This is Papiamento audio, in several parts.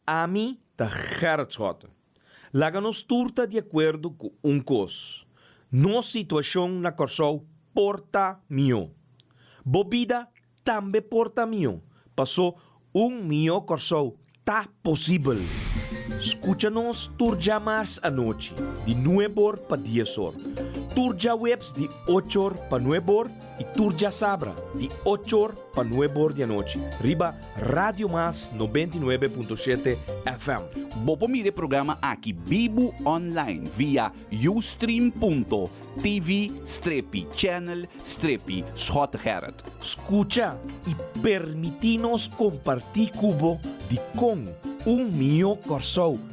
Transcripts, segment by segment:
Ami ta Gerrit Schotten. Laga nos tur ta di akuerdo ku un kos, nos situashon na Kòrsou por ta mihó. Bo bida tambe por ta mihó, pasó un mihó Kòrsou ta posibel! Skucha nos tur dja mars anochi di nuebor pa diesor, tur djaweps di ochor pa nuebor, Y tur djasabra di ocho or pa nuebe or di anochi riba Radio Mas noventa y nuebe punto shete FM. Bo por mira e programa aki bibu online via ustream.tv strepi channel strepi Schotegerrit. Scucha y permiti nos comparti cu bo di con un mihó Corsou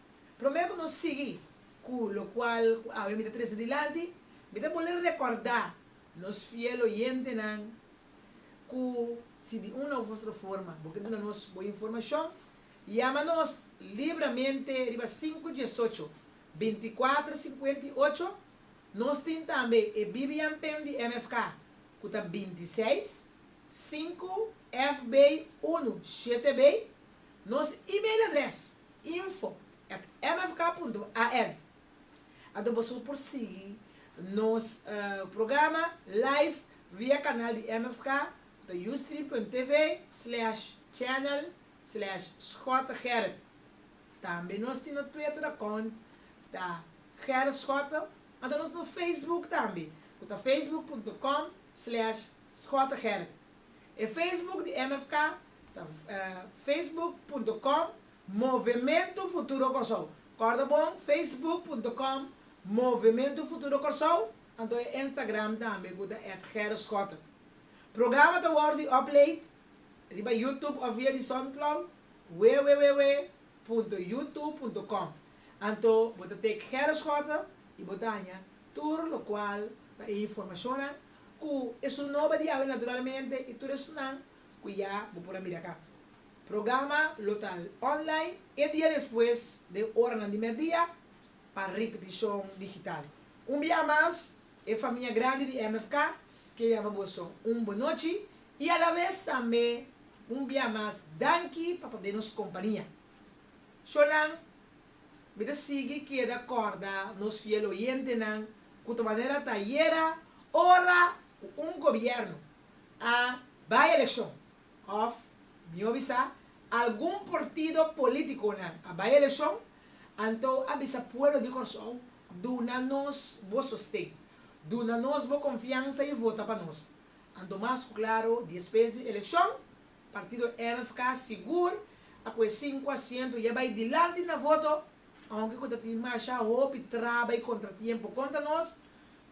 Prome ku nos sigui ku lokual ku awe mi ta trese dilanti, mi ta bolé rekòrdá nos fiel oyentenan ku si di un òf otro forma bo ke duna nos bo informashon, yama nos libramente riba sinku dies ocho, binti kuater sinkuenta i ocho. Nos tin tambe e BBM pen di MFK ku ta binti seis, sinku, FB, unu, shete, bay, Nos email adres, info at mfk punto al. Anto boso por sigui nos programa live via kanal di mfk ta ustream.tv slash channel slash Schotte Gerrit. Tambe nos tin no Twitter account ta Gerrit Schotte, anto nos no Facebook tambe ku ta facebook punto com slash Schotte Gerrit. E Facebook di MFK ta facebook punto com Movemento Futuro Kòrsou. Kòrda bon, facebook punto com Movemento Futuro Kòrsou, anto e Instagram tambe ku ta at Gerrit Schotten. Programa ta wòrdu di upload riba YouTube òf via di Soundcloud, www punto youtube punto com, anto bo ta take Gerrit Schotten i bo ta haña tur lokual ta e informashonnan Ku esun noba di awe naturalmente i tur esunnan ku ya bo por a mira aká. Programa lo ta online e dia despues den oranan di merdia pa ripetishon digital. Un biaha mas e famia grandi di MFK ke yama bo so un bonochi i a la ves tambe un biaha mas danki pa ta den nos kompania. Shownan Mi ta sigui keda kòrda nos fiel oyentenan ku ta manera ta ayera ora ku un gobièrnu a bai elekshon òf, mihó bisa, algun portido pólitikonan a bai elekshon, anto a bisa pueblo di Kòrsou, Duna nos bo sosten, duna nos bo konfiansa i vota pa nos. Anto mas ku klaro, diespes di elekshon, Partido MFK sigur ta cu e sinku asiento ya bay dilanti na voto, aunke cu ta tin masha hopi traba y contratiempo contra nos,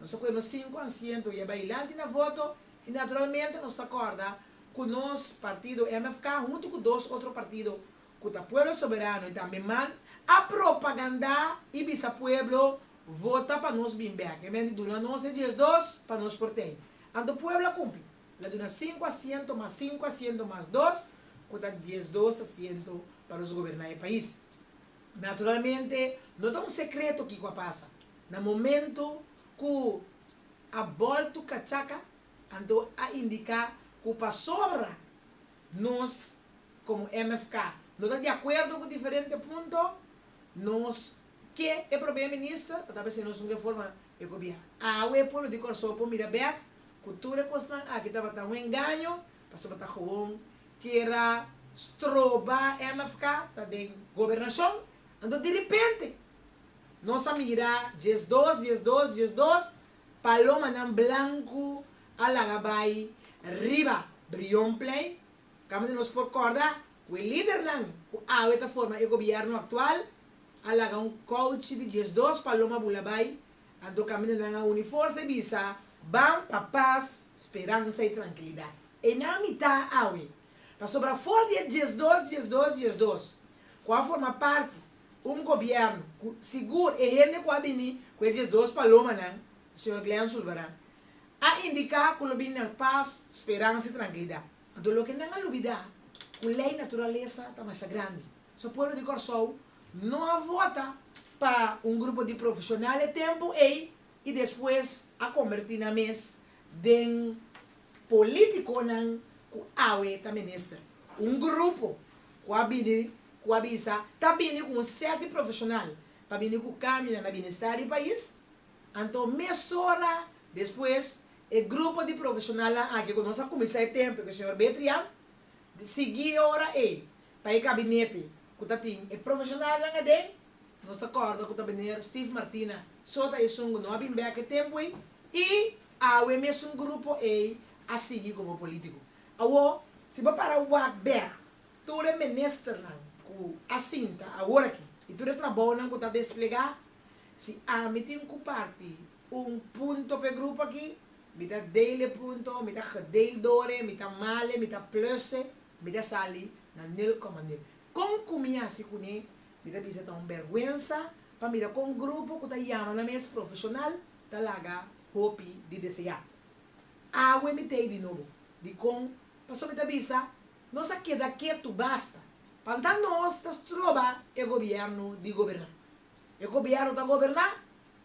nos ta cu e nos sinku asiento ya bay dilanti na voto y naturalmente nos ta corda cu nos Partido MFK hunto cu dos otro partido cu ta Pueblo Soberano y tambe man a propaganda y bisa pueblo vota pa nos bin bek, e men di duna nos e diesdos pa nos por tey. Anto pueblo a cumpli. La duna sinku asiento mas sinku asiento mas dos, ku ta diesdos asiento pa nos goberná e pais. Naturalmente no ta un sekreto kiko a pasa. Na momentu ku a boltu kachaka, anto a indiká ku pasobra nos komo MFK no ta di akuerdo ku diferente punto, nos Ke e probeer minister pa ta bese nos un reforma e gobiern. Awe e pueblo di Kòrsou por mira bek ku tur e kosnan aki tabata un engaño pasobra ta gewoon kera stroba mfk ta den gobernashon. Anto diripente nos a mira diesdos, diesdos, diesdos palomanan blanku a laga bai riba Brionplein kamandir nos por kòrda ku e lidernan ku awe ta forma e gobierno aktual a laga un kouchi di dies dos paloma bula bai, anto kamindanan a uni forsa i bisa, Ban pa pas, speransa i trankilidat. E na mitá awe, pasobra for di e dies dos, dies dos, dies dos, ku a forma parti un gobièrnu, ku sigur e hende ku a bini ku e dies dos palomanan, señor Glen Zulbarán, a indiká ku lo bini na pas, speransa i trankilidat. Anto loke nan a lubida ku lei naturalesa ta masha grandi. So pueblo di Kòrsou no a vota pa un grupo di profeshonal e tempu ei i despues a kombertí nan mes den polítikonan ku awe ta minister. Un grupo ku a bini ku a bisa ta bini ku un sèt di profeshonal pa bini ku kambio na binestar di pais, Anto mesora despues e grupo di profeshonalnan aki ku nos a kuminsá e tempu ku e señor Betrian, di sigui e ora ei ta e kabinete ku ta tin e profeshonalnan aden, nos ta kòrda ku ta Meneer Steve Martina so ta esun ku no a bin bèk e tempu ei i awe mesun grupo ei a sigui komo polítiko. Awo si bo para wak bèk tur e ministernan ku a sinta aworaki i tur e trabounan ku ta desplegá Si ami tin cu parti un punto p'e grupo aki, mi ta deel e punto, mi ta gedeel dore, mi ta male, mi ta plusse, mi ta sali na nul coma nul. Con cu mi haci cune? Mi ta bisa ta un berguensa pa mira cu un grupo cu ta yama nan mes profesional ta laga hopi di desea. Awe mi t'ey di nobo. Dicon? Pasobra mi ta bisa, Nos a keda ketu basta, panta nos ta stroba e gobierno di goberna. E gobièrnu ta goberná,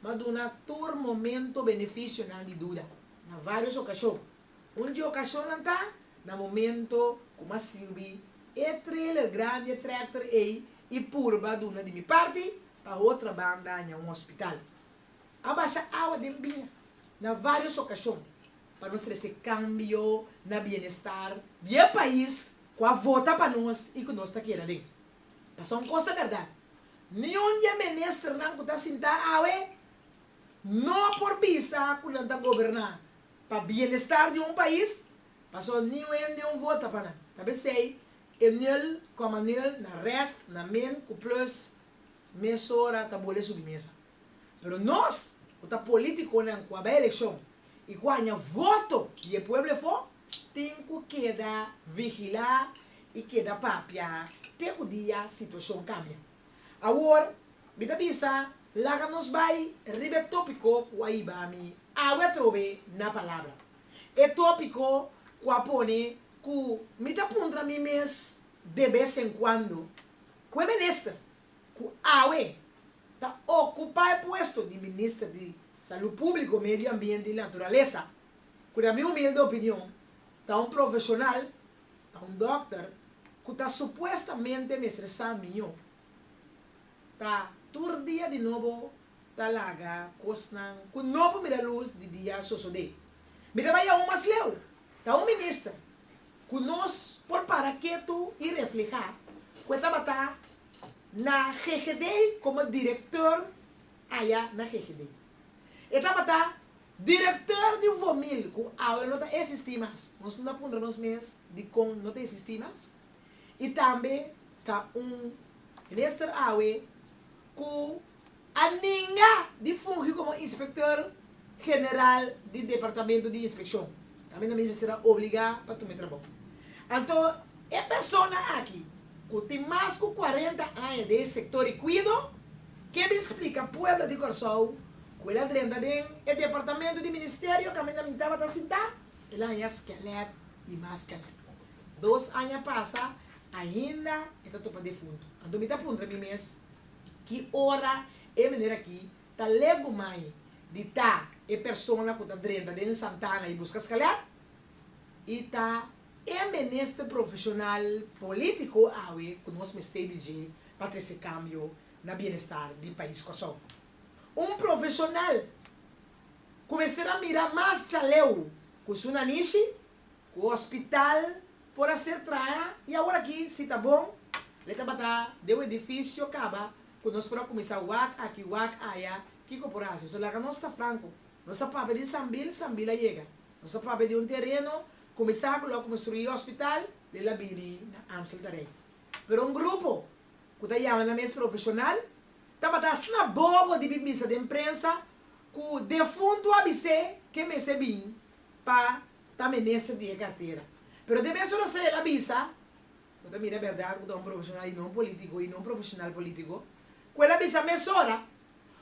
ma duna tur momento benefisionan di duda, na vários okashon. Un di okashonnan ta na momento ku mi a sirbi e trailer grandi, e trèkter ei i purba duna di mi parti pa hotra ban daña un hospital. A basha awa den biña na vários okashon pa nos trese kambio na bienestar di e pais ku a vota pa nos i ku nos ta keda den. Pasobra un kos ta bèrdat, Niun di e ministernan ku ta sintá awe no por bisa ku nan ta goberná pa bienestar di un pais, pasobra niun hende no vota pa nan. Tal bes esei e nul kòma nul na rèst, na min ku plus mesora ta bole subi mesa. Pero nos, ku ta politikonan ku a bai elekshon i ku a haña voto di e pueblo efo, tin ku keda vigilá i keda papia te ku dia situashon kambia. Awor, mi ta bisa laga nos bai riba e tópiko ku a hiba mi awe atrobe na palabra, e tópiko ku a pone ku mi ta puntra mi mes de bes en kuando, Ku e minister ku awe ta ocupa e puesto di Minister di Salud Publico, Medio Ambiente y Naturaleza, cu na mi humilde opinion ta un profesional, ta un dokter cu ta supuestamente mester sa miño, ta tur dia di nobo ta laga cosnan cu no por mira luz di dia sosode. Mi ta bai aun mas leu, ta un minister cu nos por para ketu y refleha cu e tabata. Na GGD komo direktor aya na GGD. E tabata direktor di Vomil ku awe no ta esistí mas. Nos na puntra nos mes dikon no ta esistí mas i tambe ta un minister awe ku. a ninga di fungi komo Inspektor General di Departamento di Inspekshon, kaminda mi mester a obligá pa tuma e trabou. Anto e persona aki, ku tin mas ku kuarenta aña den e sektor di kuido, ke bin splika pueblo di Kòrsou ku el a drenta den e departamento di Ministerio kaminda mi tabata sintá, el a haña skelèt i mas skelèt. Dos aña pasa, ainda e ta topa defuntu. Anto mi ta puntra mi mes, Ki ora e meneer aki ta legu mai di ta e persona ku ta drenta den Santana i buska skaler, i ta e menester profeshonal politiko awe ku nos mester di dje pa trese kambio na bienestar di pais Kòrsou. Un profeshonal ku mester a mira mas saleu ku su nanishi ku hospital por a ser traha y awor aki si ta bon le tabata den un edificio caba cu nos por a cuminsa wak aki wak aya kico por a haci so laga nos ta franco nos a papia den sambil sambil a yega nos a papia den un tereno cuminsa cu lo a construi hospital le la bini na Amstel terrey pero un grupo cu ta yama nan mes profesional tabata asina bobo di bin bisa den prensa cu defunto a bis'e ke mester bin. pa ta minister di e cartera. Pero te mes ora sa el a bisa, bo ta mira berdad cu ta un profesional y no un politico y no un profesional politico, cu el a bisa mes ora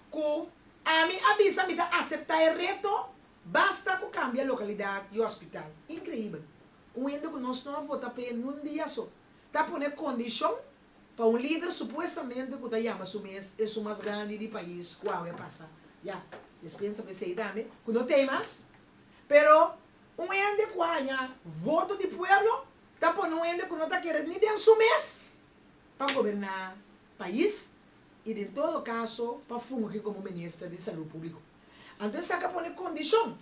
cu ami a bisa mi ta acepta e reto basta cu cambia localidad y hospital. Increibel! Un hende cu nos no a vota p'e nun dia so ta pone condicion Pa un lider supuestamente cu ta yama su mes esun mas grandi di pais cu awe a pasa ya, yes piensa pa esey tambe cu no tey mas. Pero un hende cu a haña voto di pueblo ta pone un hende cu no ta kere ni den su mes pa goberna pais y den todo caso pa fungi como minister di salud publico. Anto esaki a pone condicion.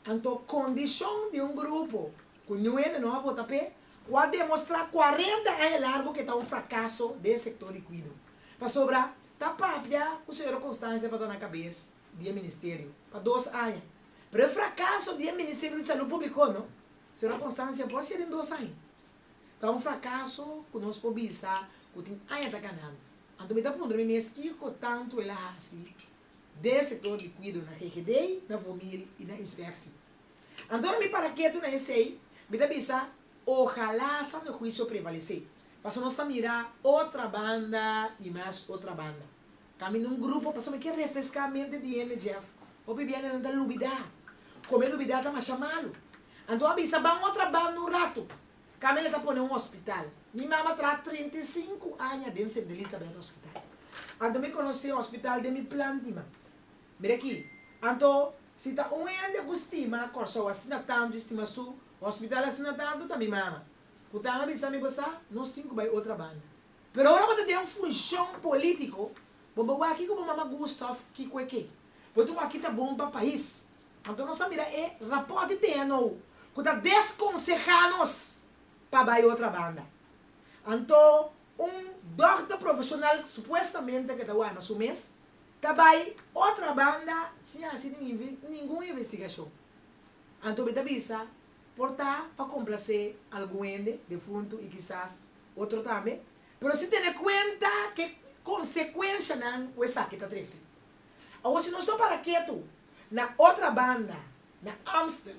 Anto kondishon di un grupo ku nuebe no a vota p'e ku a demostrá kuarenta aña largu ku e ta un frakaso den e sektor di kuido. Pasobra ta papia ku señora Constancia tabata na kabes di e ministerio pa dos aña, pero e frakaso di e Ministerio di Salú Públiko no, señora Constancia por hasié den dos aña? Ta un frakaso ku nos por bisa ku tin aña ta kanando. Anto mi ta puntra mi mes kiko tantu el a hasi den sektor di kuido na GGD, na Vomil i na Inspeksi. Anto na mi para ketu na esei, mi ta bisa ohalá sano huisio prevalesé, pasobra nos ta mira otra banda i mas otra banda. Ta mi na un grupo pasobra mi ke refreská mente di hende, Jeff, hopi bianan nan ta lubidá, kome lubidá ta masha malu. Anto a bisa ban otra banda un ratu, Camila ta pone un hospital. Mi mama traha treinta i sinku aña den Sint Elisabeth Hospital. Anto mi conoce e hospital den mi plantiman. Mira aki. Anto, si ta un hende cu stima Corsou asina tanto y stima su hospital asina tanto ta mi mama. Cu tan a bisa mi bo sa, nos tin cu bay otra banda. Pero ora bo ta den funcion politico, bo bo wak kico bo mama gusta of kico e ke. Bo tin wak kita bon pa pais. Anto nos ta mira e rapòtnan den anou ku ta deskonsehá nos pa bai otra banda. Anto un dòkter profeshonal supuestamente ke ta warda su mes ta bai otra banda sin a hasi ningun investigashon. Anto mi ta bisa por ta pa komplasé algun hende defuntu i kisas otro tambe, pero sin tene kuenta ke konsekuenshanan ku esaki ta trese. Awor si nos no para ketu, na otra banda, na Amstel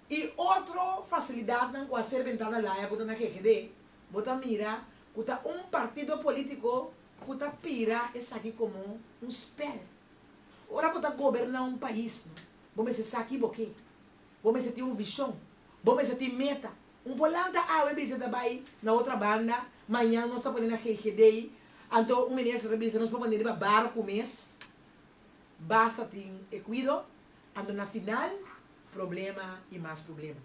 y otro facilidadnan cu a ser benta na laya cu ta na GGD, bo ta mira cu ta un partido politico cu ta pira esaki como un spel. Ora bo ta goberna un pais, bo mester sa kibo ke. Bo mester tin un vision. Bo mester tin meta. Un por lanta awe bisa ta bai na otra banda, mañan nos ta pone na GGD, anto un minister ta bisa nos por pone riba barco mes, basta tin e cuido, anto na final problema y mas problema.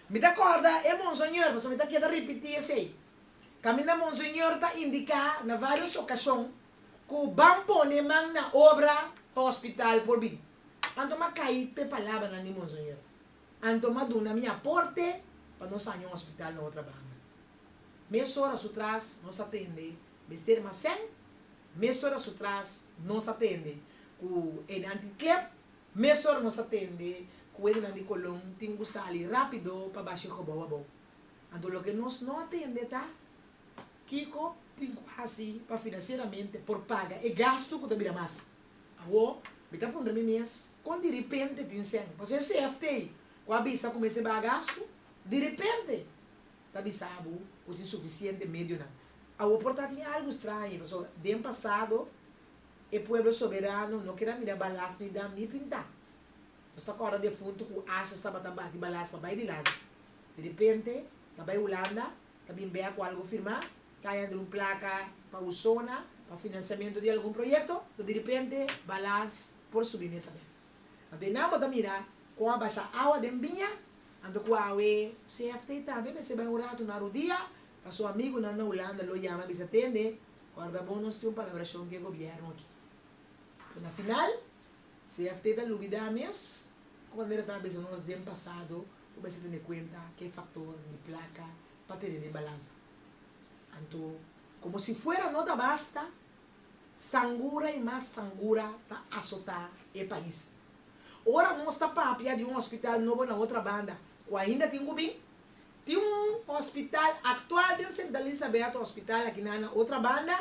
Mi ta corda e Monseñor, pasobra mi ta keda ripiti esey, caminda Monseñor ta indica na varios ocasion cu ban pone man na obra pa hospital por bin, anto m'acay p'e palabranan di Monseñor. Anto m'a duna mi aporte pa nos haña un hospital na otra banda. Mesora su tras nos a tende mester almacen, mesora su tras nos a tende cu ene antiklep, mesora nos a tende cu edenan di Colon tin cu sali rapido pa bashi gobou abou. Anto loke nos no a tende ta kico tin cu haci pa financieramente por paga e gasto cu ta bira mas. Awor, mi ta puntra mi mes, kon di ripente tin sèn? Pasobra e CFT ku a bisa ku mester bai gastu, di ripente ta bisa bo ku tin sufisiente medionan. Awor por ta tin algu strañe, pasobra den pasado e pueblo soberano no keda mira balas ni dam ni pintá. Nos ta kòrda defuntu ku ashas tabata bati balas pa bai dilanti. Di ripente ta bai Hulanda Ta bin bea cu algo firmá, caña den un placa pa un zona pa financiamento di algun proyecto, lo di repente balas por subi mesamente. Anto e Nambo ta mira con a basha awa den biña, anto cu awe CFT tambe mester bai un ratu na Rudia pa su amigunan na Hulanda lo yama bisa tende, corda bo nos tin un palabracion cu e gobierno aki. Cu na final, CFT ta lubida mes cu manera ta bisa nos den pasado, Bo mester tene kuenta ku e faktor di plaka pa tene den balansa. Anto, komo si fuera no ta basta, sangura i mas sangura ta asotá e pais. Ora nos ta papia di un hospital nobo na otra banda ku ainda tin ku bin, tin un hospital aktual den Sint Elisaberto Hospital aki nan na otra banda,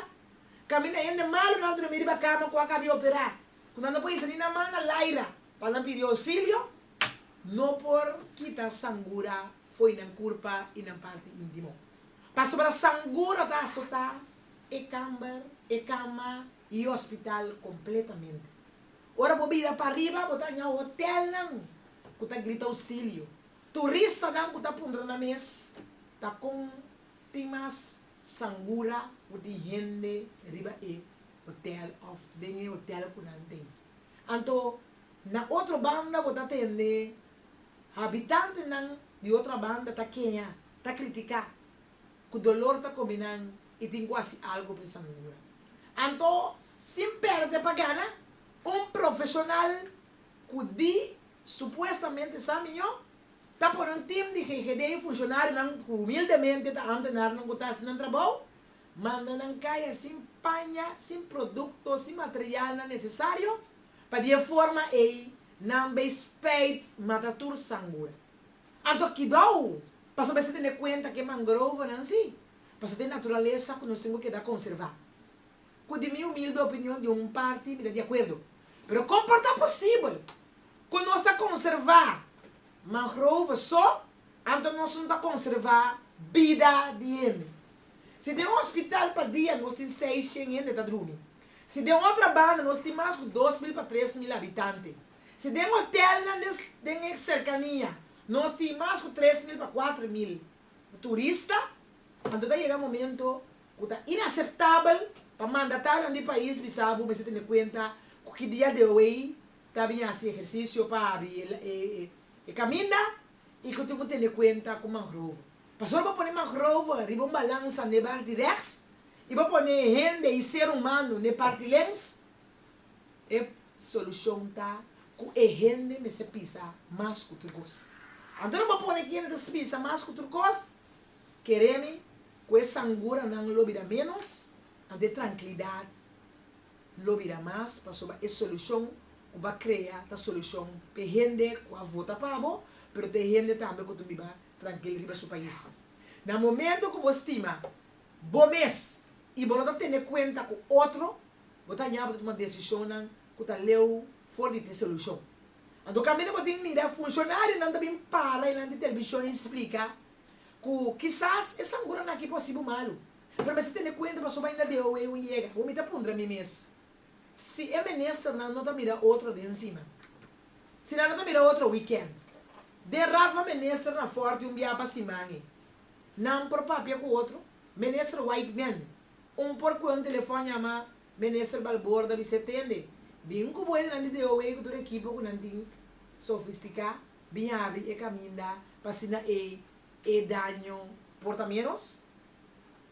kaminda hende malu nan drumi riba kama ku a kapia operá, ku nan no por hisa ni nan man na laira pa nan pidi ousilio. no por kita sangura fo'i nan kurpa i nan parti intimo. Pasobra sangura ta asotá e kamber, e kama i e hospital kompletamente. Ora bo bira pa riba bo ta haña hotelnan ku ta grita ausilio, turistanan ku ta puntra na mes ta kon tin mas sangura ku tin hende riba e hotel òf den e hotel ku nan tin. Anto, na otro banda bo ta tende habitantenan di otro banda ta keha, ta kritika, ku dolor ta komi nan i tin ku hasi algu pa e sangura. Anto, sin pèrdè pa gana, un profeshonal ku di supuestamente sa mihó, ta pone un tim di GGD i funshonarionan ku humildemente ta amtenarnan ku ta hasi nan trabou, Manda nan kaya sin paña, sin produkto, sin materialnan nesesario pa di e forma ei nan bay spijt mata tur sangura. Anto kidou pasobra esei tene kuenta ku e mangrovenan si paso ta e naturalesa ku nos tin ku keda konservá. Ku di mi humilde opinion di un parti mi ta di akuerdo. Pero kon por ta posibel ku nos ta konservá mangrove so anto nos no ta konservá bida di hende? Si den un hospital pa dia nos tin seis shen hende ta drumi. Si den otra banda nos tin mas cu dos mil pa tres mil habitante. Si den hotelnan den e cercania nos tin mas cu tres mil pa cuatro mil turista, anto ta yega momento cu ta inaceptabel pa mandatarinan di pais bisa bo mester tene cuenta cu ki dia de hoey ta bin haci ehercicio pa abri e caminda y cu tin cu tene cuenta cu mangrovo. Pasobra bo pone mak rover riba un balansa n'e barti reks, i bo pone e hende i ser humano n'e parti lenks, e solushon ta ku e hende mester pisa mas ku tur kos. Anto no bo pone kende ta pisa mas ku tur kos, kere mi ku e sanguranan lo bira ménos, anto e trankilidat lo bira mas, pasobra e solushon ku bo a krea ta solushon p'e hende ku a vota pa bo, pero ta e hende tambe ku ta biba trankil riba su pais. Na momento ku bo stima bo mes i bo no ta tene kuenta ku otro, bo ta haña bo ta tuma desishonnan ku ta leu for di disolushon. Anto kaminda bo tin mira funshonarionan ta bin para dilanti televishon i splika ku kisas e sangunan aki por hasibu malu, pero mester tene kuenta pasobra ainda deo ei un yega. Bo mi ta puntra mi mes si e ministernan no ta mira otro den sima. Si nan a ta mira otro weekend. Den Rafa Minister na Forte un biaha pa siman e. Nan por papia cu otro. Minister Whiteman, un por cu e un telefon yama Minister Balboor ta bis'e, Tende, bin cu bo enenan di DOW cu tur ekipo cu nan tin sofistica bin habri e caminda pa asina e e daño por ta menos.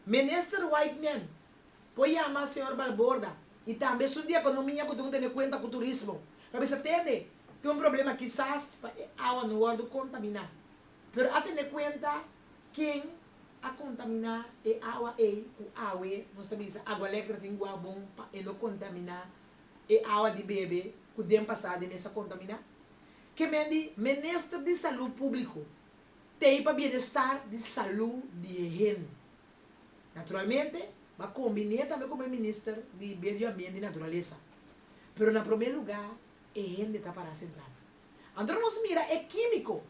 Minister Whiteman, Por yama señor Balborda y tambe su di economia cu dun tene cuenta cu turismo. Pa bisa tende tin un problema kisas pa e awa no wordo contamina. Pero a tene cuenta ken a contamina e awa ey cu awe nos ta bisa Agua Lectra tin gua bon pa e no contamina e awa di bebe cu den pasa di mes a contamina. Ke men di Minister di Salud Publico tey pa bienestar di salud di e hende. Naturalmente, bo a kombiné tambe ku bo e Minister di Medio Ambiente i Naturalesa. Pero na promé lugá, e hende ta pará sentral. Anto nos mira e kímiko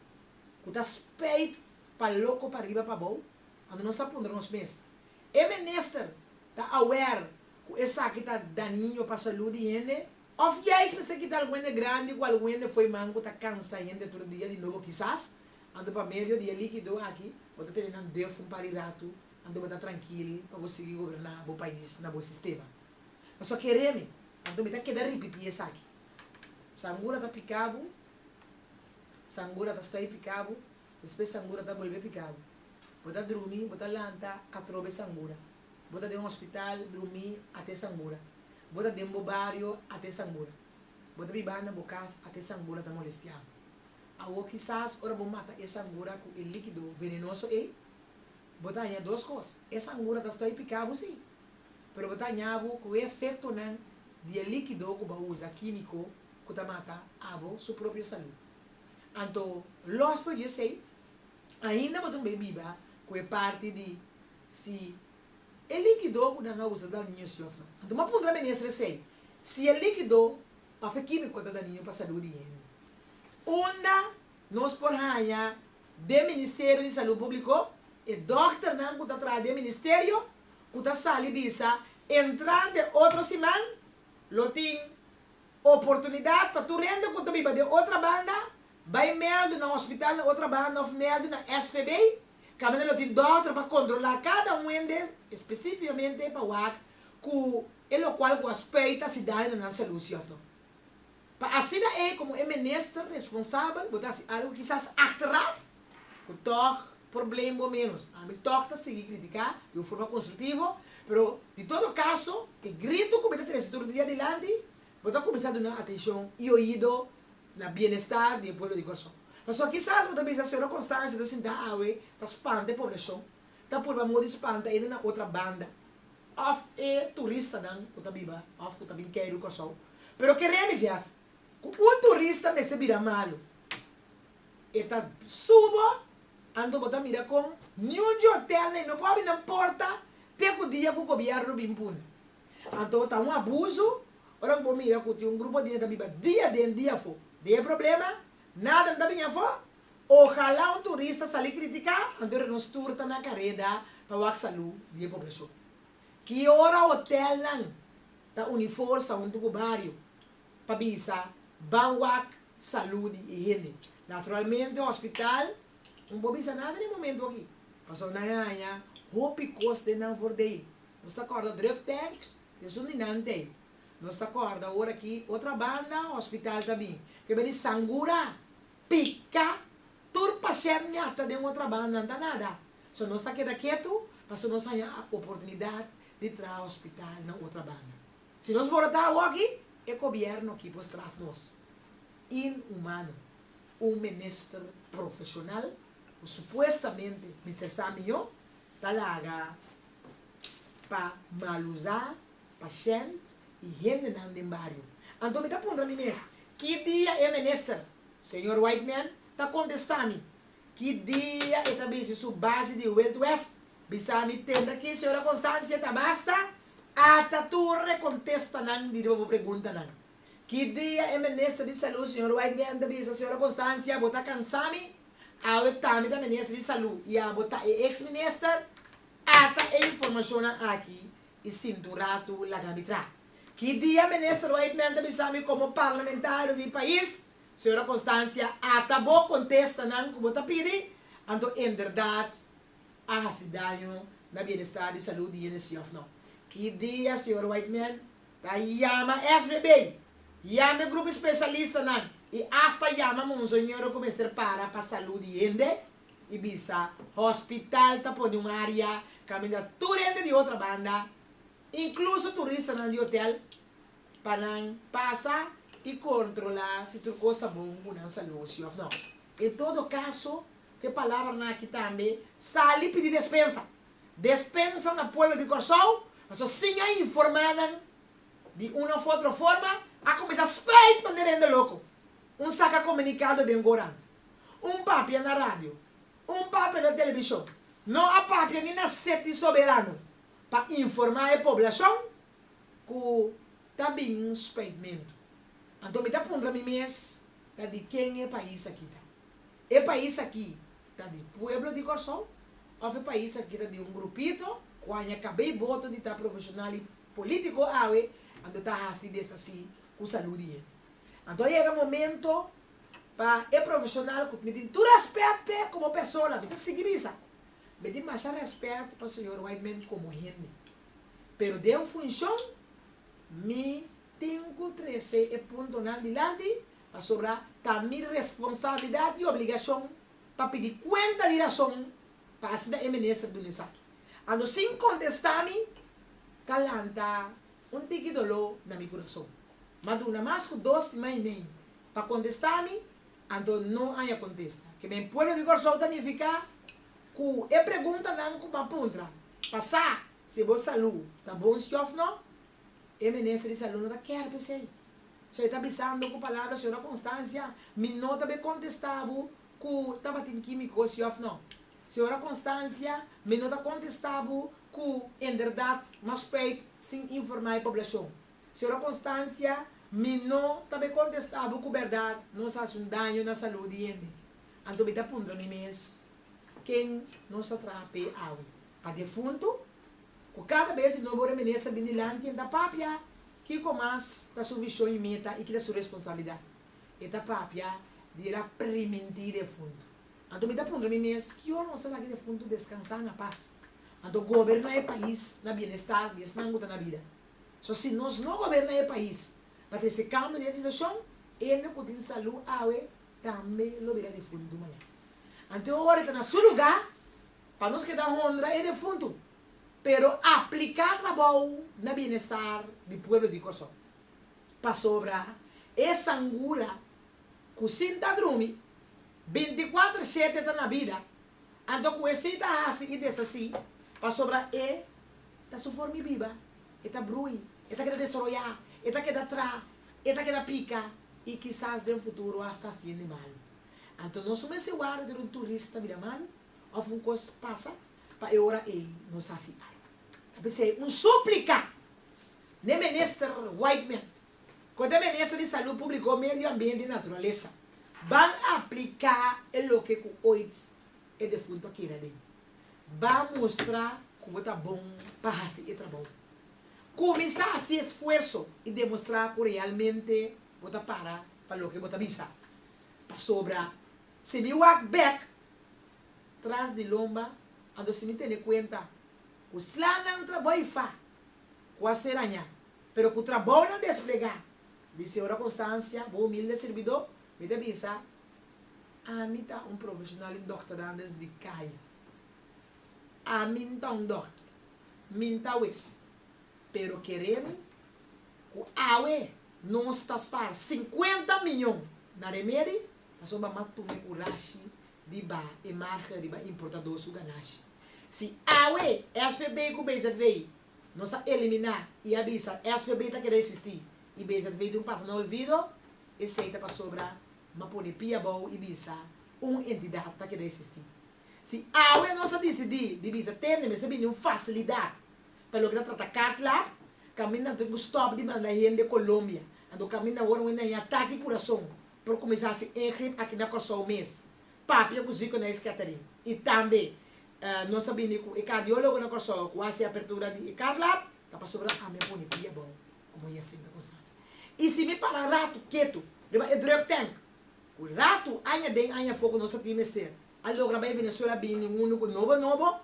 ku ta speit pa loko pariba pabou, anto nos ta puntra nos mes, E minister ta aware ku esaki ta daño pa salú di hende òf yais mester kita algun hende grandi ku algun hende foiman ku ta kansa hende tur dia di nobo kisas? Anto pa medio di e likido aki bo ta tene nan def un par di ratu anto bo ta trankil pa bo sigui goberná bo pais na bo sistema. Pasobra kere mi, anto mi ta keda ripití esaki, Sangura ta piká bo, Sangura ta stoi piká bo, despues Sangura ta bolbe piká bo. Bo ta drumi, bo ta lanta atrobe Sangura. Bo ta den hospital drumi ate Sangura. Bo ta den bo bario ate Sangura. Bo ta biba na bo cas ate Sangura ta molestiá bo. Awor kisas ora bo mata e sangura ku e likido venenoso ei, bo ta haña dos kos, e sangura ta stoi piká bo sí, pero bo ta hañabu ku e efektonan di e likido ku bo a usa kímiko ku ta mata abo su propio salú. Anto lòs for di esei, ainda bo ta mei biba ku e parti di si e likido ku nan a usa ta dal niños yòf no. Anto bo a puntra menester esei, Si e likido. Papel kímiko ta daniño pa salú di hende. Unda nos por haña den Ministerio di Salú Públiko e dòkternan ku ta traha den ministerio ku ta sali bisa entrante otro siman lo tin oportunidat pa tur hende ku ta biba den otra banda bai mèldu na hospital na otra banda òf mèldu na SVB kaminda lo tin dòkter pa kontrolá kada un hende espesífikamente pa wak ku e lokual ku a speita si daño na nan salú, si òf no. Pa asina ei komo e minister responsabel bo ta hasi algu kisas achteraf ku tòg probleem bo ménos. Ami tòg ta sigui kritiká di un forma konstruktivo, pero di todo kaso e gritu ku mi ta trese tur dia dilanti bo ta kuminsá duna atenshon i oido na bienestar di e pueblo di Kòrsou. Pasobra kisas bo ta bisa Señora Constancia ta sintá awe ta spanta e poblashon ta purba mor di spanta ende na otra banda of e turistanan cu ta biba of cu ta bin key riu Corsou. Pero kere mi Jeff cu un turista mester bira malo e ta subo anto bo ta mira con niun dje hotel na e no por habi nan porta te cu dia cu gobierno bin puna. Anto ta un abuso ora cu bo mira cu tin un grupo di hende ta biba dia den dia afo den e problema nada no ta bini afo Ojalá un turista sali critica anto nos tur ta na careda pa wak salú di e poblacion. Ki ora hotelnan ta uniforsa hunto cu bario pa bisa ban wak salú di e hende. Naturalmente hospital no por bisa nada den e momento aki pasobra nan a haña hopi cos den nan voordeel. Nos ta corda drug tank y esun di nan t'ey. Nos ta corda ora aki otra banda hospital ta bin. Ke beni sangura. Pika, tur pasher ñata den otra banda nan ta nada, so nos ta keda ketu paso nos haña a oportunidad di traha hospital na otra banda. Si nos por a ta awoki, e gobierno aki por straf nos. Inhumano. Un minister profesional cu supuestamente mester sa mijo ta laga pa mal usa. Pashènt i hendenan den bario. Anto mi ta puntra mi mes, Ki dia e minister, señor Whiteman, ta kontestá mi? Ki dia e ta bisi su base di Wild West bisá mi tenta kinse ora konstansia ta basta ata tur e kontestanan di riba bo preguntanan? Ki dia e minister di salú, señor Whiteman, ta bisa, Señora Konstansia, bo ta kansá mi? Awe ta mi ta minister di salú i abo ta e ex minister? Ata e informashonnan aki y sin dura tu laga mi tra. Ki dia Minister Wightman ta bisa mi como Parlamentario di pais, Sra. Constancia, ata bo contesta nan cu bo ta pidi, anto enberdad a haci daño na bienestar di salud di hende si of no. Ki dia Sr. Wightman ta yama SBB, yama e grupo e specialistanan y hasta yama Monseñor cu mester para pa salud di hende? I bisa, Hospital ta pone un área kaminda tur hende di otra banda, inkluso turistanan di hotel, pa nan pasa i kontrolá si tur kos ta bon ku nan salú, sí òf nò. En todo kaso, ku e palabranan aki tambe sali pidi despensa. Despensa na pueblo di Kòrsou, pasobra sin a informá nan di un òf otro forma, a kuminsá sprei pa hende rende loko. Un saka komunikado den Gorant. Un papia na radio, un papia na televishon, no a papia ni na set di soberano pa informá e poblashon ku ta bin speitmentu. Anto mi ta puntra mi mes, ta di ken e pais aki ta? E pais aki ta di pueblo di Kòrsou òf e pais aki ta di un grupito ku haña kab'é i boto di ta profeshonal i polítiko awe anto ta hasi desasí ku salú di hende? Anto a yega momento Pa e profesional cu mi tin tur respet p'e como persona, mi ta sigui bisa, Mi tin masha respet pa señor Wightman como hende, pero den funcion mi tin cu trece e puntonan dilanti pasobra ta mi responsabilidad y obligacion pa pidi cuenta di razon pa asina e minister duna esaki. Anto sin contesta mi ta lanta un tiki dolor na mi curason. M'a duna mas cu dos siman y mei pa contesta mi, anto no aña contesta. Ke men pueblo di Corsou ta nifica cu e preguntanan cu ban puntra pa sa si bo salu ta bon si of no, e Minister di Salu no ta ker p'esey. So e ta bisando cu palabra Sra. Constancia, mi no ta be contesta bo cu tabatin quimico si of no. Sra. Constancia, mi no ta contesta bo cu inderdat, mas spijt, sin informa e poblacion. Sero konstansia, Mi no ta be kontestá bo ku bèrdat, nos a hasi un daño na salú di hende. Anto mi ta puntra mi mes, Ken nos ta traha p'e awe? Pa defuntu? Ku kada bes di nobo reminister bini lanti en ta papia kiko mas ta su vishon i meta i ki ta su responsabilidat, e ta papia di el a primintí defuntu. Anto mi ta puntra mi mes, Ki ora nos ta lak e defuntu deskansá na pas, anto goberná e pais na bienestar di esnan ku ta na bida? So si nos no goberna e pais pa tin se cambio di legislacion, hende cu tin salu awe tambe lo bira defuntu maña. Anto e ora ta na su luga pa nos keda honra e defuntu, pero aplica trabou na bienestar di pueblo di Corsou. Pasobra e sangura cu sin ta drumi, binti cuater shete ta na bida, anto cu esey ta haci y deshaci, pasobra e Ta su for mi biba, e ta brui, e ta keda desoroyá, e ta keda trá, e ta keda pika i kisas den futuro asta hasiende malu. Anto nos no mester warda dor un turista bira malu òf un kos pasa pa e ora ei nos hasi algu. Ta p'esei un súplika n'e Minister Whiteman ku ta Minister di Salú Públiko, Medio Ambiente i Naturalesa, ban apliká e loke ku oit e defuntu a keda den. Ba mustra ku bo ta bon pa hasi e trabou. Kuminsá hasi esfuerso i demostrá ku realmente bo ta para pa loke bo ta bisa. Pasobra si mi wak bèk tras di lomba anto si mi tene kuenta ku slanan trabou fa ku a ser aña, pero ku trabounan desplegá di Señor a konstansia, bo humilde sirbidó, mi ta bisa Ami ta un profesional di dokterandes di kaya. Ami N ta un dokter, mi N ta wes, pero kere mi ku awe nos ta spara sinkuenta miñon na remedi pasobra mi a tuma e kurashi di ba e marke riba importadó su ganashi. Si awe SVB ku BZV no sa eliminá i a bisa SVB ta keda esistí i BZV tin pasa na olvido, esei ta pasobra M'a pone pia bou i bisa, Un entidad ta keda existí. Si awe nos a disidí di bisa tende mester bini un facilidad pa loke ta trata kartlap, kaminda tin ku stòp di manda hende Colombia. Anto kaminda awor un dañá ta di kurason por kuminsá hasi ingrip aki na Kòrsou mes, papia ku Zico na e skettering. I tambe nos ta bini ku e kardiólogo na Kòrsou ku a hasi apertura di e kartlap ta pasobra ami a pone pia bou. Como Yeh Sinti Cu Sas? Y si mi para ratu ketu riba e drug tank, cu ratu, aña den aña for cu nos a tin mester, a logra bay Venezuela bini ninguno cu nobo nobo,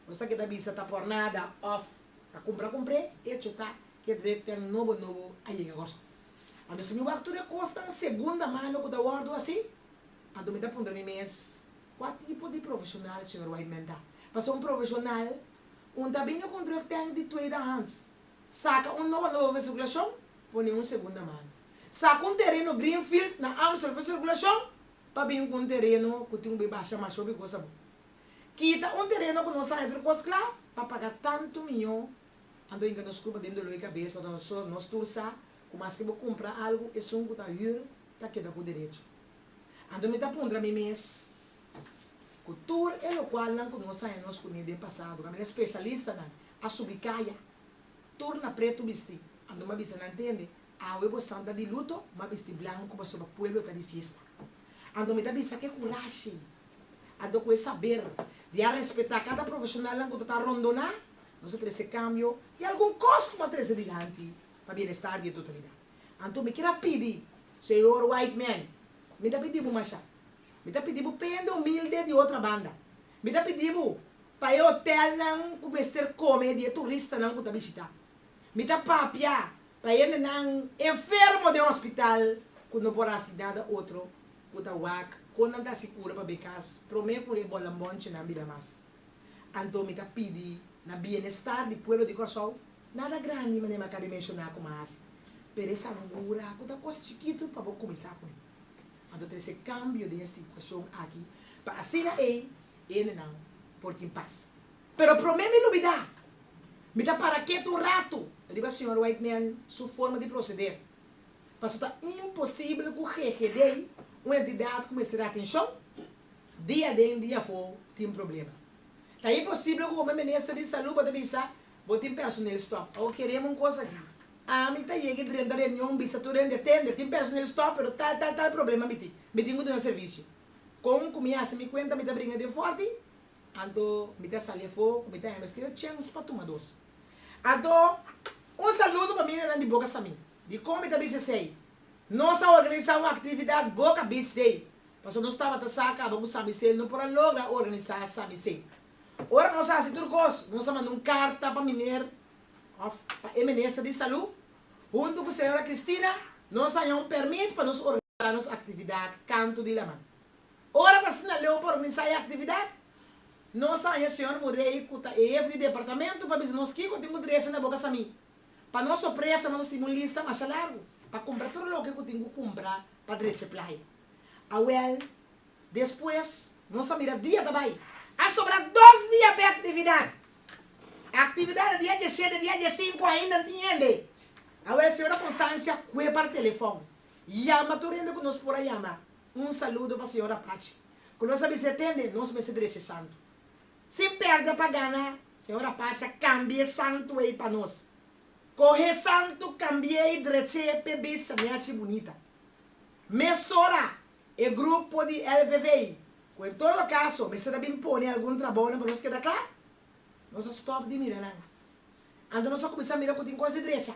nos ta keda bisa ta por nada of ta cumpra cumpr'e, hecho ta cu e drug tank nobo nobo a yega goso. Anto si mi wak tur e cosnan segunda mano cu ta wordo asi, anto mi ta puntra mi mes, Cua tipo di profesional Señor Whiteman ta? Pasobra un profesional, un ta bini cu un drug tank di tweede hands, Saka un nobo nobo ves regulacion, pone un segunda mano. Saka un tereno green field na Amstel ves regulacion pa bin cu un tereno cu tin un bay basha masho bi gosa bo. Kita un tereno cu no sa haider cos cla pa paga tanto miyo ando inga nos cuba den doloi cabes pasobra nos tur sa cu maske bo cumpra algo esun cu ta huur ta keda cu derecho. Anto mi ta puntra mi mes ku tur e lokualnan ku nos a haña nos kuné den pasado, kaminda e spesialistanan a subi kaya tur na pretu bisti, anto mi a bisa nan tende, Awe bo esnan ta di luto, mi a bisti blanku pasobra pueblo ta di fiesta. Anto mi ta bisa ku e kurashi, anto ku e saber di a respetá kada profeshonalnan ku ta ta rondoná, nos a trese kambio i algun kos lo a trese dilanti pa bienestar di e totalidat. Anto mi kira pidi, Señor Whiteman, mi ta pidibu masha. Mi ta pidibu pa e hende humilde di otra banda. Mi ta pidibu pa e hotelnan cu mester come di e turistanan cu ta bishita. Mi ta papia pa e hendenan enfermo den hospital cu no por haci nada otro cu ta wak con nan ta haci cura pa be cas prome cu e bolanbonchenan bida mas. Anto mi ta pidi na bienestar di pueblo di Kòrsou, nada grandi manera mi a kabe menshoná ku mi a hasi, pero e sangura ku ta kos chikitu pa bo kuminsá ku e. Anto trese kambio den e situashon aki pa asina ei hendenan por tin pas. Pero promé mi lubidá, mi ta para ketu un ratu riba señor Whiteman su forma di proseder, pasobra ta imposibel ku GGD, un entidat ku mester atenshon, Dia aden, dia afó tin problema. Ta imposibel ku home minister di salú bo ta bisa, Bo tin personel stòp. Awor kereba un kos aki. Ami ta yega i drenta reunion bisa tur hende atende, tin personel stòp pero tal tal tal problema mi tin. Mi tin ku duna servisio. Kon ku mi hasi mi kuenta mi ta bringa den forti? Anto mi ta sali afó ku mi ta hende meski ora chèns pa tuma dos. Anto un saludo pa mira nan di Boca Samín. Dikon mi ta bisa esei? Nos a organisá un aktividat Boca Beach Day. Paso nos tabata sa caba cu sa bisel, no por a logra organisa sa bisel. Ora nos a haci tur cos, nos a manda un carta pa Miner. Of pa e Minister di Salu. Hunto cu Sra. Cristina, nos a haña un permit pa nos organisa nos actividad canto di laman. Ora t'asina leu pa organisa e actividad, nos a haña Sr. Murray, cu ta e hef di departamento, pa bisa nos kico tin cu drecha na boca Sami. Pa nos sorpresa, nos a sibi un lista masha largo pa cumpra tur loke cu tin cu cumpra pa drecha e playa. Awel, Despues nos ta mira dia ta bai. A sobra dos dia p'e aktividat. E aktividat di dia dieshete, dia diesinku ainda no tin hende. Awel, Señora Konstansia kue para telefòn, yama tur hende ku nos por a yama. Un saludo pa señora Pachi, ku nos a bis'é tende nos mester drechi e santu. Sin pèrdè pa gana, señora Pachi a kambia e santu ei pa nos. Kohe e santu, kambi'é i drech'é p'e beach Samiachi Bunita. Mesora, e grupo di LVV, cu en todo caso mester a bin pone algun trabounan pa nos keda cla, nos a stop di mira nan. Anto nos a cuminsa mira cu tin cos di drecha,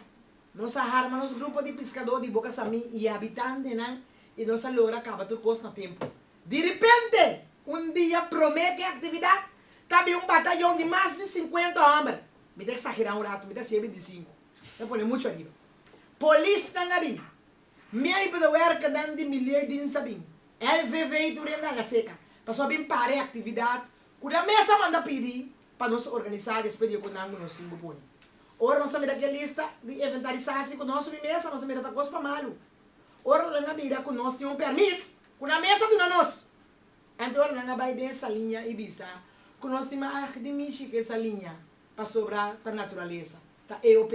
nos a harma nos grupo di piscador di boca Sami y e habitantenan y nos a logra caba tur cos na tempo. Di repente, un dia prome cu e actividad, ta bin un batayon di mas di cincuenta homber, mi ta exagera un rato, mi ta siye binticinco, ta pone mucho ariba, polisnan a bin. Mi a hiba da werkanan di mi liei di Nsabin, lvv i tur e nanga seka, pasobra bin para e aktividat ku nan mes a manda pidi pa nos organisá despues di e konnan ku nos tin bo pone. Ora nos a mira ke lista di inventarisasi ku nos sumi mesa, nos a mira ta kos pa malu. Ora nan a mira ku nos tin un pèrmit ku nan mes a duna nos, anto ora nan a bai den e saliña i bisa ku nos tin mas di mishi ku e saliña pasobra ta naturalesa, ta AOP.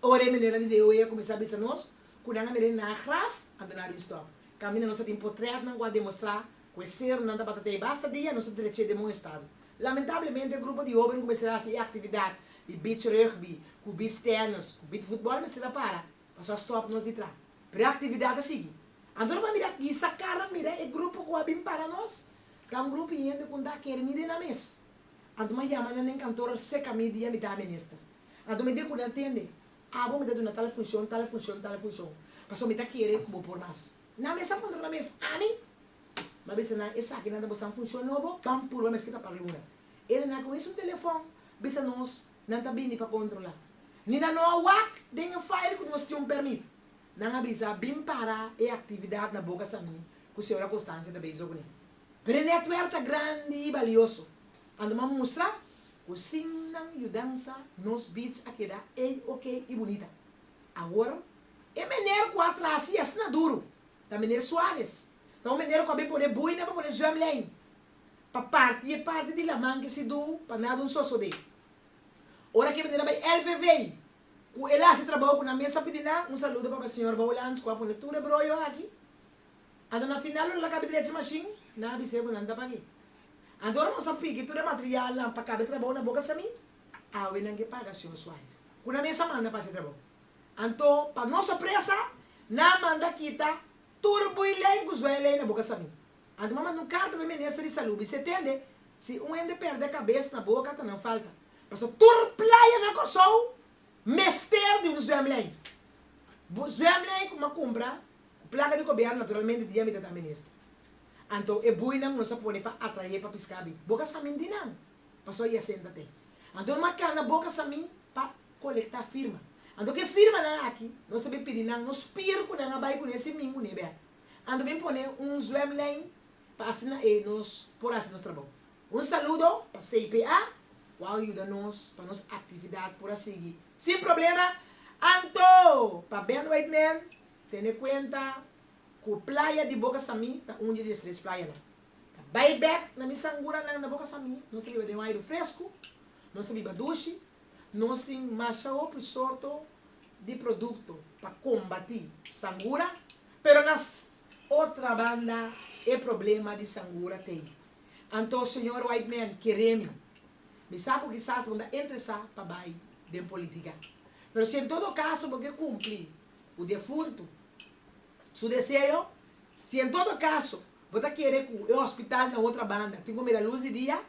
Ora e menera di DOE a kuminsá bisa nos ku nan a meré na graf, anto nan a bin stòp. Kaminda nos a tin potrètnan ku a demostrá ku e serunan tabata ta e basta dia, nos a drech'é den bon estado. Lamentablemente, e grupo di hóben kumesá di hasi e aktividat di beach rugby, ku beach tennis, ku beach futbòl mester a para, pasobra a stòp nos di tra. Pero e aktividat a sigui. Anto nan a mira aki, sa kara mira e grupo ku a bin para nos, ta un grupo hende ku nta a kere ni rena mes. Anto m'a yama nan den kantor seka midia, mi ta a minister. Anto mi dekuda ntende, abo mi ta duna tal funshon, tal funshon, tal funshon, pasobra mi ta kere ku bo por mas. Nan mes a montra nan mes, ami mi a bisa nan esaki nan ta boso nan funshon nobo, pan purba mes ku ta par'e una. E renan ku his un telefòn bisa nos nan ta bini pa kontrolá. Ni nan no a wak den e fail ku nos tin un pèrmit. Nan a bisa bin para e aktividat na Boca San Juan ku señora Constancia ta beiza kuné. Pero e nètwèrk ta grandi i balioso. Ando m'a mustra cu sin nan yudansa nos beach a keda ey ok y bunita. Awor, e meneer cu a traci asina duru, ta meneer Suarez. Ta un meneer cu a bin pone buina pa pone zwem lijn, pa parti e parti di laman ki si duw pa na dun sosode. Ora cu e meneer a bay LVV, cu el a haci trabao cu nan mester pidi nan, un saludo pa pa señor Bowlands cu a pone tur e broyo aki. Anto na final lo ta laka bidrechi e mashin, nan a bisa e bo nan ta pag'e. Anto ora nos a piki tur e materialnan pa kab'e trabou na boka Samí, awe nan ke paga señor Suárez, ku nan mester a manda pa haci e trabou. Anto, pa nos sorpresa, nan a manda kita tur bui lei ku zuei lei na boka Samí. Anto m'a manda un karta pa e minister di Salú, bis'é tende si un hende pèrdè kabes na boka ta nan falta, pasobra tur playa na Kòrsou mester di un zwemlei, bu zwemlei ku m'a kumpra Ku plaka di koberna naturalmente dia mi ta dami neste. Anto e buinan ku nos a pone pa atrae pa piská bin. Bo ka sa mi di nan paso i a senta te. Anto no matan na boka sa mi pa kolektá firma. Anto ku e firmanan aki nos ta bin pidi nan no spier ku nan a bai kuné si mingu ne'e bèk. Anto bin pone un zwèmlijn pa asina e nos por hasi nos trabou. Un saludo pa CPA ku a yuda nos pa nos aktividat por a sigui sin problema. Anto pa Ben Whiteman Tene kuenta ku playa di Boca Samí ta un di e dies tres playanan. Ta bai bèk na mi sanguranan na Boca Samí, nos ta biba den un airu fresku, nos ta biba dushi, nos tin masha hopi sorto di produkto pa kombatí sangura, pero na otra banda e problema di sangura ta ei. Anto señor Whiteman keré mi, mi sa ku kisas bo ta interesá pa bai den politika, pero si en todo kaso bo ke kumplí Ku defuntu. Su deseo, Si en todo kaso bo ta kere ku e hospital na otra banda tin ku mira luz di dia,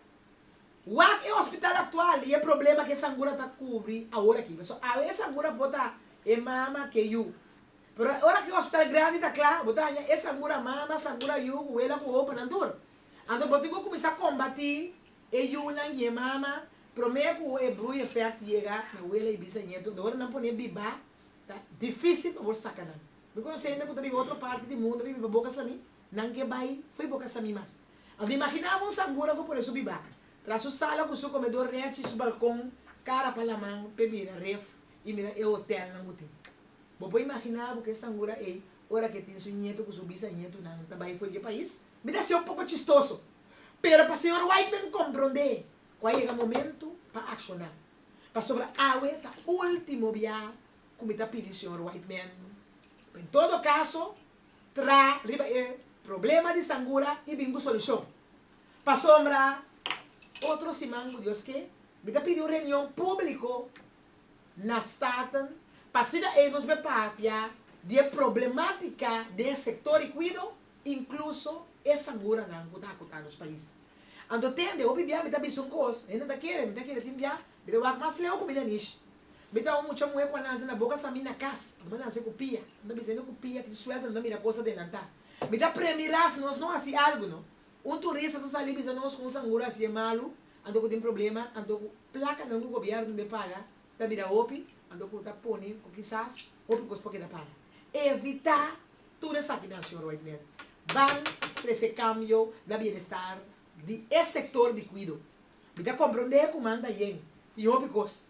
wak e hospital aktual i e problema ku e sangura ta kubri awor aki. Pasobra awe e sangura por ta e mama ku e yu. Pero ora ku e hospital grandi ta kla, bo ta haña e sangura mama, sangura yu, ku wela ku opa nan tur. Anto bo tin ku kuminsá kombati e yunan i e mama promé ku e brui effect yega na wela i bisa i nietu. Ora nan pone biba. Ta dificil pa bo saca nan. Mi conoce hende cu ta biba otro parti di mundo, biba pa bo casa mi, nan ke bay fo'i bo casa mi mas. Anto imagina abo un sangura cu pone su biba tras su sala cu su comedor rech y su balcon cara pa laman pe mira ref y mira e hotel nan cu tin. Bo por imagina abo cu e sangura ey ora ke tin su nieto cu su bisanieto nan ta bay fo'i dje pais? Mi ta haci'o poco chistoso, pero pa señor Whiteman compronde, Cu a yega momento pa acciona. Pasobra awe ta ultimo bia cu mi ta pidi Señor Whiteman pa en todo caso tra riba e problema di sangura y bin cu solucion. Pasobra otro siman cu Dios ke mi ta pidi un reunion publico na Staten pa asina ey nos be papia di e problematica den e sector di cuido incluso e sanguranan cu ta hacu ta nos pais. Anto tende hopi bia mi ta bisa un kos, hende ta kere, mi ta kere tin bia, mi ta wak mas leu ku mi na nish. Mi ta un mucha muhe ku a lansa na boka sa mi na kas, mi a lansa ku pia, nan ta bisa hende ku pia tin suerte nan ta mira kos adelanta. Mi ta premi ra si nos no hasi algu no, un turista ta sali bisa nos ku un sangura hasié malu, anto ku tin problema, anto ku plakanan ku gobièrnu no be paga, Ta bira hopi, anto ku ta pone ku kisas hopi kos por keda para. Evitá tur esaki nan, señor Whitener, ban trese kambio na bienestar di e sektor di kuido. Mi ta komprondé ku manda yen tin hopi kos,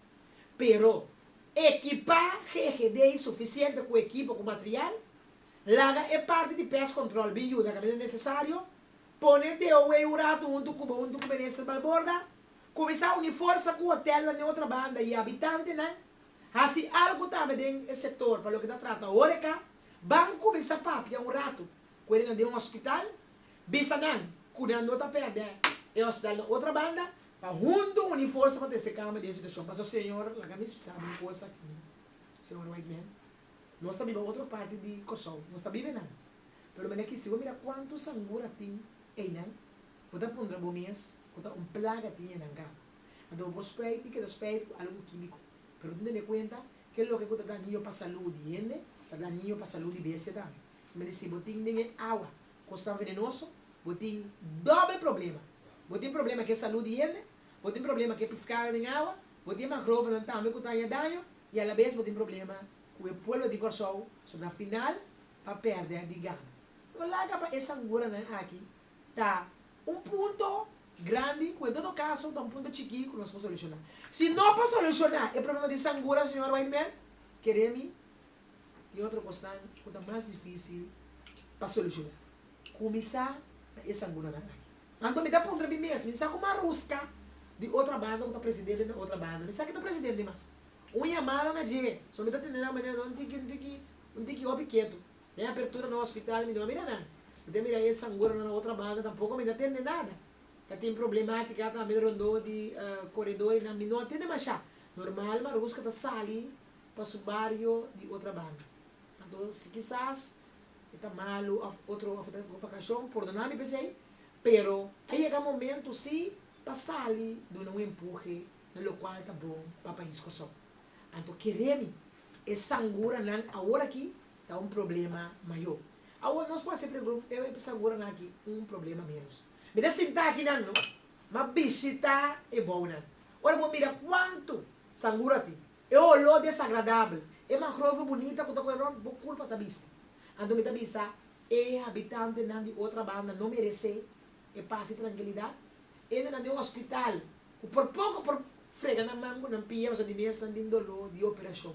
pero ekipá GGD sufisiente ku ekipo ku material, laga e parti di pest control bin yuda kabinda nesesario, pone DOW un ratu huntu kubo, huntu ku Minister Balborda, Kuminsá uni forsa ku hotelnan den otra banda i habitantenan hasi algu tambe den e sektor pa loke ta trata horeca. Ban kuminsá papia un ratu ku hende den hospital, bisa nan ku nan no ta pèrdè e hospital na otra banda pa huntu uni forsa pa ta esei kamba di e situashon. Paso señor laga mi spsá bo un kosa aki, señor Whiteman, nos ta biba otro parti di Kòrsou, nos ta biba enan, pero mi na kisi bo mira kuantu sangura tin einan Bo ta puntra bo mes, Cu ta un plaga tiña nan cama? Anto bo por spijt di keda spijt cu algu quimico. Pero tin tene cuenta ke loke cu ta dañio pa salud di hende, ta dañio pa salud di bestia tambe. I mester si bo tin den e awa cos tan venenoso, bo tin doble problema. Bo tin problema ke salud di hende, bo tin problema ke piscado den awa, bo tin e mangrovenan tambe cu ta haña daño y a la vez bo tin problema cu e pueblo di Corsou, so na final pa perde di gana. No laga pa e sanguranan aki ta un punto grandi cu en todo caso ta un punto chiki cu nos por soluciona. Si no por soluciona e problema di sangura, señor Whiteman, kere mi tin otro cosnan cu ta mas dificil pa soluciona. Cuminsa na e sanguranan aki. Anto mi ta puntra mi mes, mi sa cu Marusca di otra banda cu ta presidente na otra banda, mi sa ki ta presidente mas. Un yamada na dje, so mi ta tende nan manera nan un tiki, un tiki, un tiki hopi ketu. Na e apertura na hospital mi no a mira nan. Mi ta mira e sanguronan na otra banda tampoco mi no a tende nada. Ta tin problematica tambe rondó di coredorenan mi no a tende masha. Normal Maruska ta sali pa su bario di otra banda. Anto si kisas e ta malo of otro of e ta go vacacion por duna mi pesey pero a yega momento si pa sali duna un empuje na locual ta bon pa pais Kòrsou. Anto kere mi e sanguranan awor aki ta un problema mayo. Awor nos por hasi pregun, E p'e sa gura nan aki un problema menos? Mi ta sinta aki nan no, m'a bishita e bounan. Ora bo mira kuantu sangura tin, e oló desagradabel, e mangrove bunita ku ta kore rònt, bo kulpa ta bisti. Anto mi ta bisa, E habitantenan di otra banda no meresé e pas i trankilidat? Ende nan den un hospital ku por poko por frega nan man ku nan pia pasobra di mi esnan tin doló di operashon.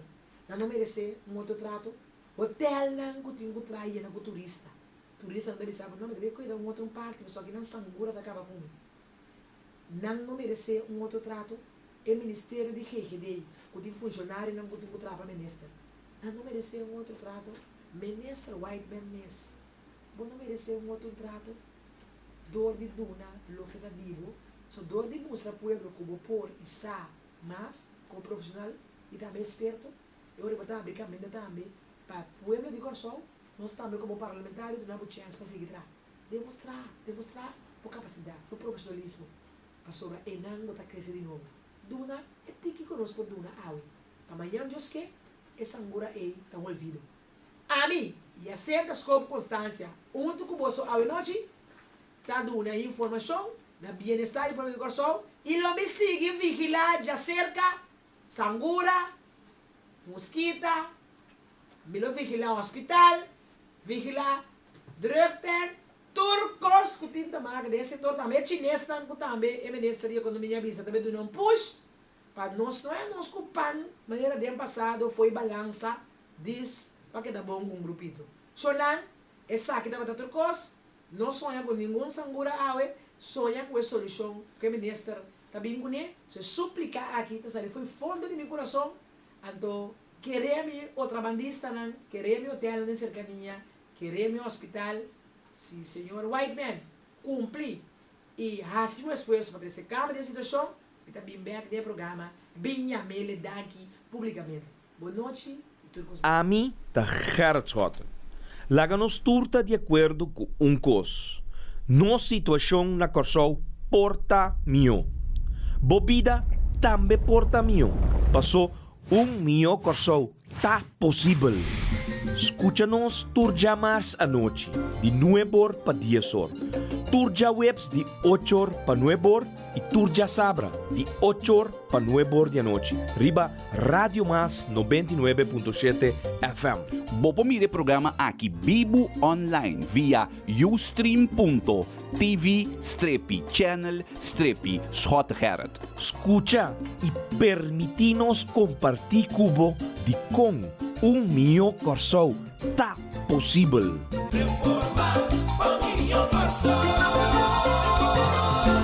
Nan ta meresé un otro trato. Hotèlnan ku tin ku traha yena ku turista. Turistanan ta bisa bo, No, mi ta bin kuida un otro un parti, pasobra aki nan sangura ta kaba ku mi. Nan no meresé un otro trato. E ministerio di GGD ei, ku tin funshonarionan ku tin ku traha pa minister, nan no meresé un otro trato. Minister Whiteman mes, bo no meresé un otro un trato dor di duna loke ta di bo, pasobra dor di mustra pueblo ku bo por i sa. Mas, komo profeshonal i tambe eksperto, e ora bo ta abri kaminda tambe pa pueblo di Kòrsou, nos tambe komo parlamentario duna bo chèns pa sigui traha. Demostrá, demostrá bo kapasidat, bo profeshonalismo, pasobra enan bo ta krese di nobo. Duna e tiki ku nos por duna awe, pa mañan dioske e sangura ei ta un olvido. Ami, Yacinta Skop Constancia, huntu ku boso awe nochi. Ta duna informashon na Bienestar y Familia Kòrsou i lo mi sigui vigilá djaserka sangura, muskita, mi lo vigilá hospital, vigilá drugtent, tur kos ku tin ta maka den e sektor tambe e chinesnan ku tambe e minister di ekonomia a bisa ta be duna un push pa nos no e nos ku pan manera den pasado foi balansa dis pa keda bon un grupito. Sho nan esaki tabata tur kos No soña cu ningun sangura awe soña cu e solucion cu e minister ta bin cune. So e suplica aki ta sali fo'i fondo di mi curason, anto quere mi otrabandistanan, quere mi hotelnan den cercania, quere mi hospital, si Señor Whiteman cumpli y haci un esfuerzo pa trece cambio den situacion, mi ta bin bek den e programa bin yamele danki publicamente. Bon nochi y tur cos bon. Ami ta Gerrit Schotten. Laga nos tur ta di acuerdo cu un cos, nos situacion na Corsou por ta miyo. Bo bida tambe por ta miyo, paso un miyo Corsou ta posibel. Scucha nos tur djamars anochi di nuebor pa diesor, tur djaweps di ochor pa nuebor, Y tur djasabra di ocho or pa nuebe or di anochi riba Radio Mas noventa y nuebe punto shete FM. Bo por mira e programa aki bibu online via ustream.tv strepi channel strepi Schot Gerrit. Scucha y permiti nos comparti cu bo di con un miyo Corsou ta posibel.